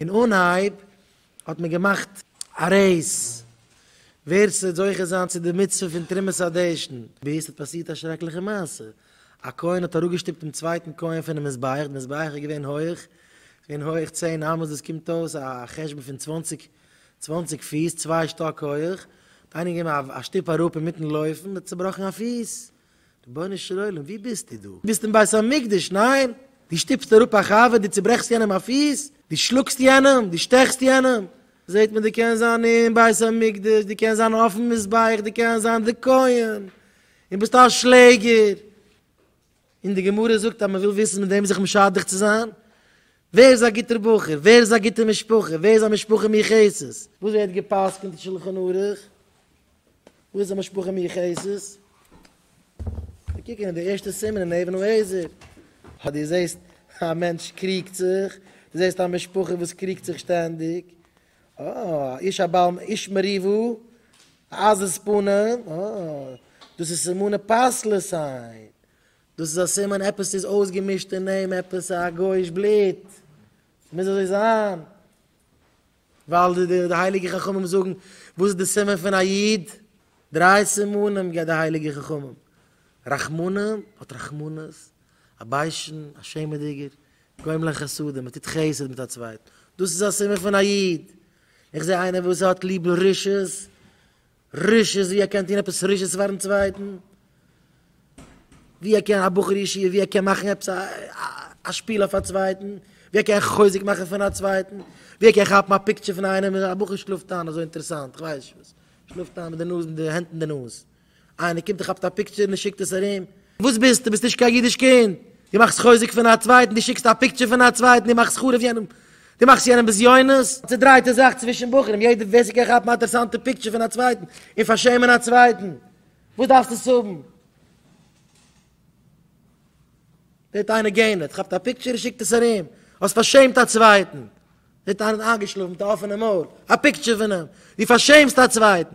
אין אנהייב האט מען געמאכט א רעיס ווער ס'וועט זוכה זיין צו די מצוה פון תרומת הדשן, ביז ס'האט פאסירט א שרעקליכע מעשה, א כהן האט אראפגעשטופט דעם צווייטן כהן פונעם מזבח, די מזבח איז געווען הויך, ס'איז געווען הויך צען אמות, דאס קומט אויס א חשבון פון צוואנציג צוואנציג פיס, צוויי שטאק הויך, האט איינעם געגעבן א שטופ אראפ אינמיטן לויפן, האט צובראכן א פיס. רבונו של עולם, ווי ביסטו דא? ביסט אין בית המקדש, ניין? דו שטופסט אראפ א חבר, דו צוברעכסט יענעם א פיס, דו שלאגסט יענעם, דו שטעכסט יענעם. זעט מען, דו קענסט זיין אין בית המקדש, דו קענסט זיין אויפן מזבח, דו קענסט זיין די כהן, און ביסט א שלעגער. און די גמרא זאגט אז מען וויל וויסן מיט וועם זיך משדך צו זיין, ווער איז א גוטער בחור, ווער איז א גוטע משפחה, ווער איז א משפחה מיוחסת. וואס ווערט גע'פסק'נט אין שלחן ערוך? וואו איז די משפחה מיוחסת? מיר קוקן אין די ערשטע סימן אין אבן העזר. אז דו זעסט א מענטש קריגט זיך, דו זעסט א משפחה וואס קריגט זיך שטענדיג, אה, איש א בעל איש מריבו, א עזות פנים, אה, דאס איז סימני פסלות סיין. דאס איז א סימן עפעס איז אויסגעמישט אין אים, עפעס א גוי'איש בלוט. ס'מוז אזוי זיין. ווייל די הייליגע חכמים זאגן, וואס איז די סימן פון א איד? דריי סימנים גיבט די הייליגע חכמים, רחמנים, האט רחמנות, א ביישן, א שעמעדיגער, גורם לחסדים, מען טוט חסד מיט א צווייטן, דאס איז א סימן פון א איד, איך זע איינער וואס האט ליב רשעות, רישות ווי ער קען טון עפעס רישות פארן צווייטן, ווי ער קען א בחור ישיבה ווי ער קען מאכן עפעס א שפיל אויף א צווייטן, ווי ער קען חוזק מאכן פון א צווייטן, ווי ער קען כאפן א פיקטשער פון איינעם, א בחור שלאפט איין אזוי אינטערעסאנט, איך ווייס נישט וואס, שלאפט איין מיט די נאז, מיט די הענט אין די נאז, איינער קומט און כאפט א פיקטשער און שיקט עס ארום. וואס ביסטו? ביסט נישט קיין אידיש קינד? דו מאכסט חוזק פון א צווייטן, דו שיקסט א פיקטשער פון א צווייטן, דו מאכסט חרוב יענעם, דו מאכסט יענעם בזיונות, א צעדרייטע זאך צווישן בחורים, יעדער ווער ס'קען כאפן א אינטערעסאנטע פיקטשער פון א צווייטן און פארשעמען א צווייטן, וואס דארפסטו עס האבן? זעט איינער גע'נער'ט, כאפט א פיקטשער און שיקט עס ארום, האסט פארשעמט א צווייטן, זעט איינער איינגעשלאפן מיט א אפענע מויל, א פיקטשער פון אים, דו פארשעמסט א צווייטן.